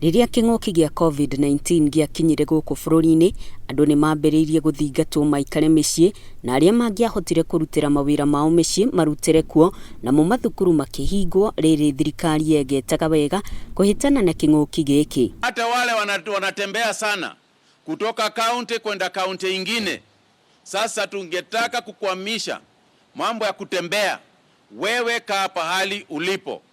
Rĩrĩa kĩng'ũki gĩa Covid-19 gĩakinyire gũkũ bũrũri-inĩ, andũ nĩ maambĩrĩirie gũthingatwo maikare mĩciĩ, na arĩa mangĩahotire kũrutĩra mawĩra mao mĩciĩ marutĩre kuo, namo mathukuru makĩhingwo, rĩrĩ thirikari yegetaga wega kũhĩtana na kĩng'ũki gĩkĩ. Hata wale wanatembea sana kutoka kaunti kwenda kaunti ingine, sasa tungetaka kukwamisha mambo ya kutembea, wewe kaa pahali ulipo.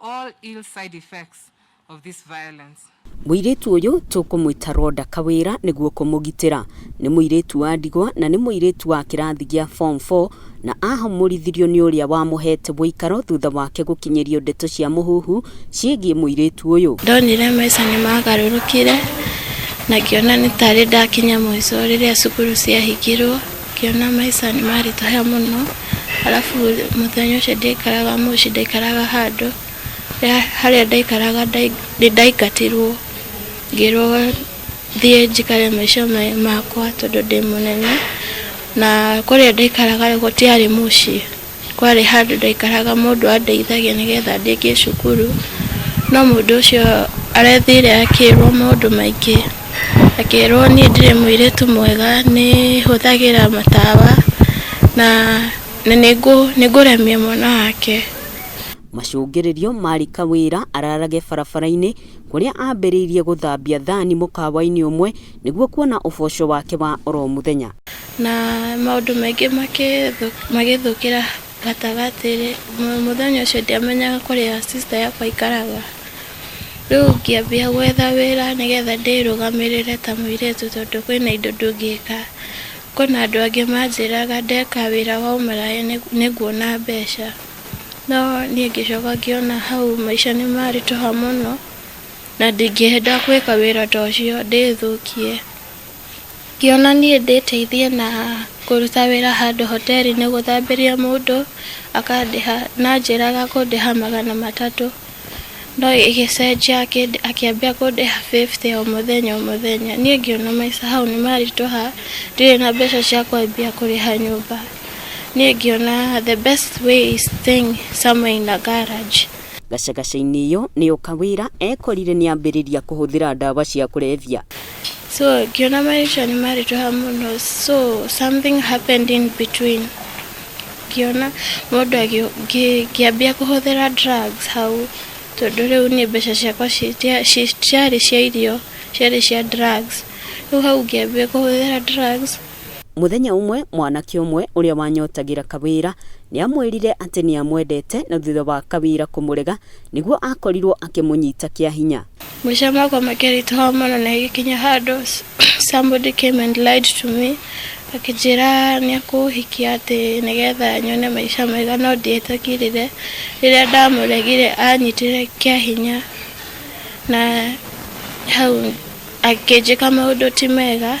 All ill side effects of this violence. Mũirĩtu ũyũ tũkũmwĩta Rhoda Kawĩra nĩguo kũmũgitĩra. Nĩ mũirĩtu wa ndigwa na nĩ mũirĩtu wa kĩrathi gĩa form four na ahũmũrithirio nĩ ũrĩa wamũhete wũikaro thutha wake gũkinyĩrio ndeto cia mũhuhu ciĩgiĩ mũirĩtu ũyũ. Ndonire maica nĩ maagarũrũkire na ngĩona nĩ tarĩ ndakinya mũico rĩrĩa cukuru ciahingirũo. Ngĩona maica nĩ maritũha mũno, arabu mũthenya ũcio ndiaikaraga mũciĩ, ndaikaraga handũ, harĩa ndaikaraga nĩ ndaingatirwo ngĩrwo thiĩ njikare maica makwa tondũ ndĩ mũnene, na kũrĩa ndaikaraga gũtiarĩ mũciĩ. kwarĩ handũ ndaikaraga mũndũ andeithagia nĩgetha ndĩkie cukuru, no mũndũ ũcio arethire akĩrwo maũndũ maingĩ, akĩrwo niĩ ndirĩ mũirĩtu mwega, nĩ hũthagĩra matawa, na na nĩngũremia mwana wake. Macũngĩrĩrio marĩ Kawĩra ararage barabara-inĩ kũrĩa ambĩrĩirie gũthambia thani mũkawa-inĩ ũmwe Nĩguo kuona ũboco wake wa oro mũthenya. Na maũndũ maingĩ magĩthũkĩra gatagatĩ rĩ, mũthenya ũcio ndiamenyaga kũrĩa sister yakwa aikaraga. Rĩu ngĩambia gwetha wĩra nĩ getha ndĩrũgamĩrĩre ta mũirĩtu tondũ kwĩna indo ndũngĩka. Kwĩna andũ angĩ manjĩraga ndeka wĩra wa ũmaraya nĩ nguona mbeca. No niĩ ngĩcoka ngĩona hau maica nĩ maritũha mũno. na ndingĩenda gwĩka wĩra ta ũcio ndĩthũkie. Ingĩona niĩ ndĩteithie na kũruta wĩra handũ hoteri-inĩ gũthambĩria mũndũ akandĩha na anjĩraga akũndĩha magana matatũ, no ĩgĩcenjia akĩambia kũndĩha bĩbute o mũthenya o mũthenya. Niĩ ngĩona maica hau nĩ maritũha ndirĩ na mbeca cia kwambia kũrĩha nyũmba. Niĩ ngĩona the best way is staying somewhere in a garage. Gacagaca-inĩ ĩyo nĩyo Kawira ekorire nĩambĩrĩria kũhũthĩra ndawa cia kũrebia. So ngĩona marĩtwa nĩ marĩtũha mũno so something happened in between ngĩona mũndũ agĩ- ngĩ- ngĩambia kũhũthĩra drugs hau tondũ rĩu niĩ mbeca ciakwa citia- ci- citiarĩ cia irio ciarĩ cia drugs rĩu hau ngĩambia kũhũthĩra drugs Mũthenya ũmwe, mwanake ũmwe ũrĩa wanyotagĩra Kawira nĩ aamwĩrire atĩ nĩ amwendete na thutha wa Kawira kũmũrega nĩguo akorirũo akĩmũnyita kĩa hinya. Maica makwa makĩritũha mũno na ĩgĩkinya handũ somebody came and lied to me akĩnjĩra nĩ ekũhikia atĩ nĩgetha nyone maica mega no ndietĩkirire. Rĩrĩa ndamũregire aanyitire kĩa hinya na hau akĩnjĩka maũndũ ti mega.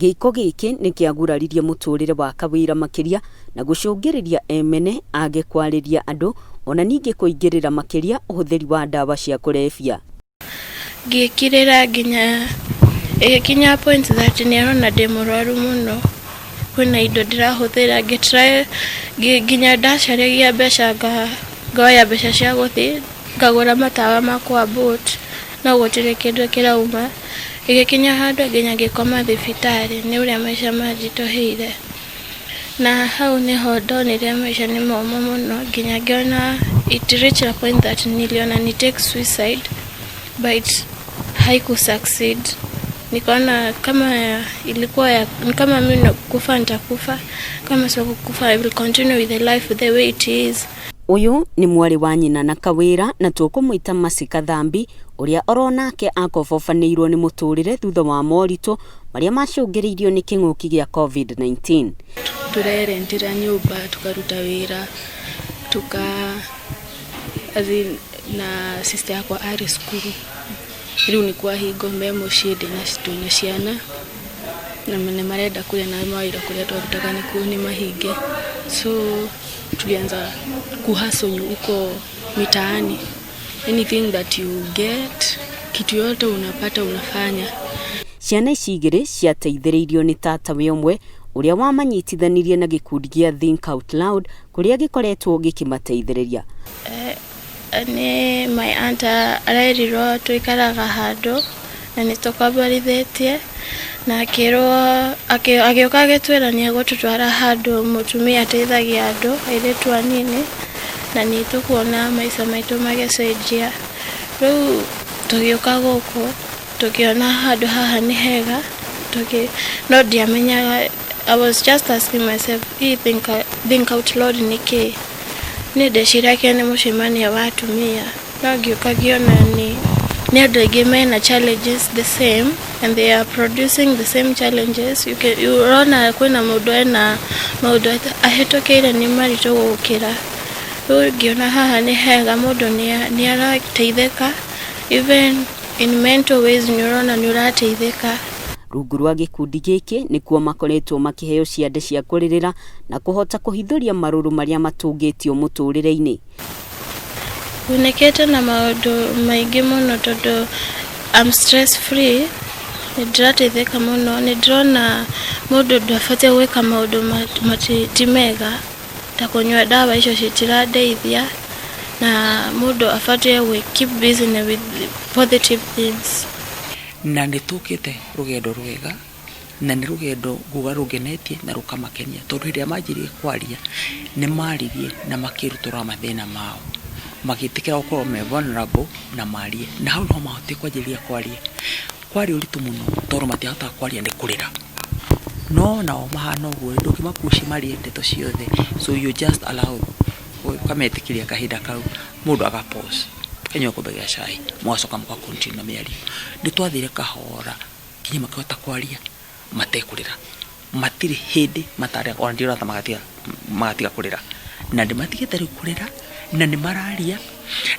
Gĩĩko gĩkĩ nĩ kĩaguraririe mũtũũrĩre wa Kawira makĩria na gũcũngĩrĩria Emene age kwarĩria andũ, o na ningĩ kũingĩrĩra makĩria ũhũthĩri wa ndawa cia kũrebia. Ngĩkirĩra nginya ĩgĩkinya point that nĩ arona ndĩ mũrwaru mũno, kwĩna indo ndĩrahũthĩra, ngĩ try nginya ndacaragia mbeca ngoya mbeca cia gũthiĩ Ngagũra matawa makwa boat no gũtirĩ kĩndũ kĩrauma, ĩgĩkinya handũ nginya ngĩkoma thibitarĩ nĩ ũrĩa maica manjitũhĩire, na hau nĩho ndonire maica nĩ momũ mũno nginya ngĩona it reach a point that niliona ni take suicide but haiku succeed, nikaona kama ilikuwa ya ni kama mimi kufa nitakufa kama sio kukufa I will continue with the life the way it is Ũyũ nĩ mwarĩ wa nyina na Kawĩra na tũkũmwĩta Mercy Kathambi, ũrĩa oro nake akobobanĩirwo nĩ mũtũrĩre thutha wa moritũ marĩa macũngĩrĩirio nĩ kĩng'ũki gĩa Covid-19. Tũrerentĩra nyũmba, tũkaruta wĩra, tũka as in na sister yakwa arĩ cukuru, rĩu nĩ kwahingwo me mũciĩ ndĩna twĩna ciana na nĩ marenda kũrĩa na mawĩra kũrĩa twarutaga nĩkuo nĩ mahinge so... tulianza kuhustle huko mitaani anything that you get kitu yote unapata unafanya ciana ici igĩrĩ ciateithĩrĩirio nĩ tatawe ũmwe ũrĩa wamanyitithanirie na gĩkundi gĩa Think Out Loud kũrĩa gĩkoretwo gĩkĩmateithĩrĩria. Nĩ my aunt arerirwo tũikaraga handũ na nĩ tũkomborithĩtie na akĩrwo agĩũka agĩtwĩra nĩ egũtũtwara handũ mũtumia ateithagia andũ airĩtu anini na nĩ tũkuona maica maitũ magĩcenjia. Rĩu tũgĩũka gũkũ tũkĩona handũ haha nĩ hega no ndiamenyaga... I was just asking myself, hii think, think out loud nĩ kĩĩ? Niĩ ndeciragia nĩ mũcemanio wa atumia, no ngĩũka ngĩona nĩ nĩ andũ aingĩ mena challenges the same and they are producing the same challenges. You can, you ũrona kwĩna mũndũ ena maũndũ ata- ahĩtũkĩire nĩ maritũ gũkĩra. Rĩu ngĩona haha nĩ hega mũndũ nĩ- nĩ arateithĩka even in mental ways nĩ ũrona nĩ ũrateithĩka. Rungu rwa gĩkundi gĩkĩ nĩkuo makoretwo makĩheo ciande cia kũrĩrĩra na kũhota kũhithũria marũrũ marĩa matũngĩtio mũtũrĩre-inĩ. Thĩnĩkĩte na maũndũ maingĩ mũno tondũ I'm stress free, nĩ ndĩrateithĩka mũno, nĩ ndĩrona mũndũ ndabatiĩ gwĩka maũndũ ti mega ta kũnyua ndawa icio citirandeithia na mũndũ abatiĩ gwĩ keep busy with positive things. Na nĩ tũkĩte rũgendo rwega na nĩ rũgendo nguga rũngenetie na rũkamakenia tondũ hĩndĩ ĩrĩa manjirie kwaria nĩ maririe na makĩrutũrũra mathĩna mao magĩtĩkĩra gũkorwo me vulnerable na marie. Na hau nĩho mahotire kwanjĩrĩria kwaria. Kwarĩ ũritũ mũno tondũ matiahotaga kwaria nĩ kũrĩra. No nao mahana ũguo-rĩ, ndũngĩma push marie ndeto ciothe so you just allow ũkametĩkĩria kahinda kau. mundu agapose enyo kubegira cai mwacoka muka continue na miario ni twathire kahora kinya makihota kwaria matekurira matire hindi matare ona ndio rata magatiga magatiga kurira na ndi matigite riu kurira na ni mararia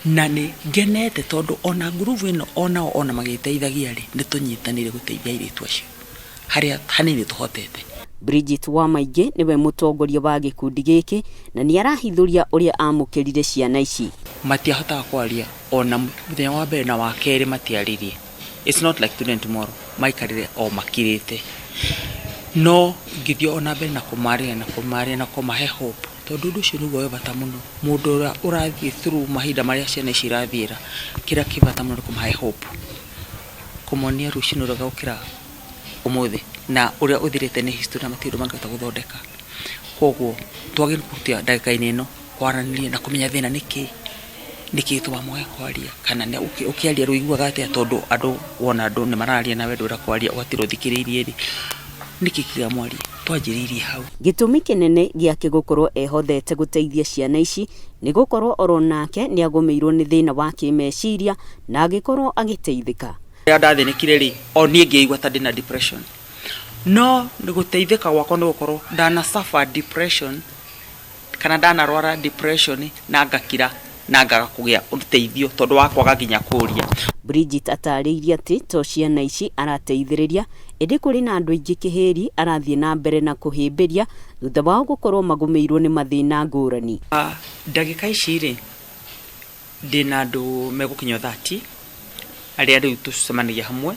na ni ngenete tondu ona nguruvu ino ona ona magiteithagia ri ni tunyitanire guteithia iritu acio harĩa hanini tũhotete. Bridget Wamaingĩ nĩwe mũtongoria wa gĩkundi gĩkĩ na nĩarahithũria ũrĩa amũkĩrire ciana ici. Matiahotaga kwaria ona mũthenya wa mbere na wa kerĩ matiaririe. It's not like today and tomorrow. Maikarire o makirĩte. No ngĩthiĩ ona mbere na kũmarĩria na kũmarĩria na kũmahe hope tondũ ũndũ ũcio nĩguo wĩ bata mũno. Mũndũ ũrĩa ũrathiĩ through mahinda marĩa ciana ici irathiĩra, kĩrĩa kĩ bata mũno nĩ kũmahe hope. kũmonia rũciinĩ rwega gũkĩra ũmũthĩ, na ũrĩa ũthirĩte nĩ history na matirĩ ũndũ mangĩhota gũthondeka. Koguo twagĩrĩirwo kũruta ndagĩka-inĩ ĩno kwaranĩria na kũmenya thĩna nĩ kĩĩ, nĩ kĩĩ gĩtũmaga mwage kwaria, kana ũkĩaria rĩu ũiguaga atĩa tondũ andũ wona andũ nĩ mararia nawe ndũrenda kwaria ũgatinda ũthikĩrĩirie rĩ, nĩ kĩĩ kĩngĩtũma mwarie? twanjĩrĩirie hau. Gĩtũmi kĩnene gĩake gũkorwo ehotete gũteithia ciana ici nĩ gũkorwo o ro nake nĩ agũmĩirwo nĩ thĩna wa kĩĩmeciria na agĩkorwo agĩteithĩka. Rĩrĩa ndathĩnĩkire-rĩ, o niĩ ngĩĩigua ta ndĩ na depression. No gũteithĩka gwakwa nĩ gũkorwo ndana suffer depression. kana ndanarwara depression na ngakira na ngaga kũgĩa ũteithio tondũ wa kwaga nginya kũũria. Bridget ataarĩirie atĩ to ciana ici arateithĩrĩria, ĩndĩ kũrĩ na andũ aingĩ Kĩhĩri arathiĩ na mbere na kũhĩmbĩria thutha wao gũkorwo magũmĩirwo nĩ mathĩna ngũrani. Ndagĩka ici-rĩ, Ndĩ na andũ megũkinya o thati arĩa rĩu tũcemanagia hamwe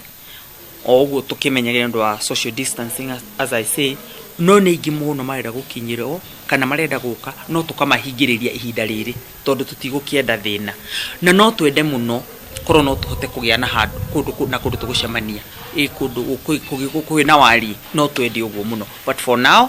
o ũguo tũkĩmenyaga nĩ ũndũ wa social distancing as I say, no nĩ aingĩ mũno marenda gũkinyĩrwo kana marenda gũka no tũkamahingĩrĩria ihinda rĩrĩ tondũ tũtigũkĩenda thĩna. Na no twende mũno korwo no tũhote kũgĩa na handũ kũndũ na kũndũ tũgũcemania, ĩ kũndũ kwĩna wariĩ no twende ũguo mũno but for now...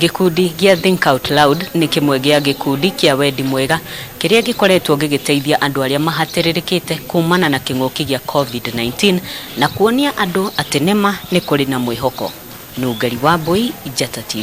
Gĩkundi gĩa Think Out Loud nĩ kĩmwe gĩa gĩkundi kĩa wendi mwega kĩrĩa gĩkoretwo gĩgĩteithia andũ arĩa mahatĩrĩrĩkĩte kuumana na kĩng'ũki gĩa Covid-19 na kuonia andũ atĩ nĩ ma nĩ kũrĩ na mwĩhoko. Nũngari Wambũi, Njata TV.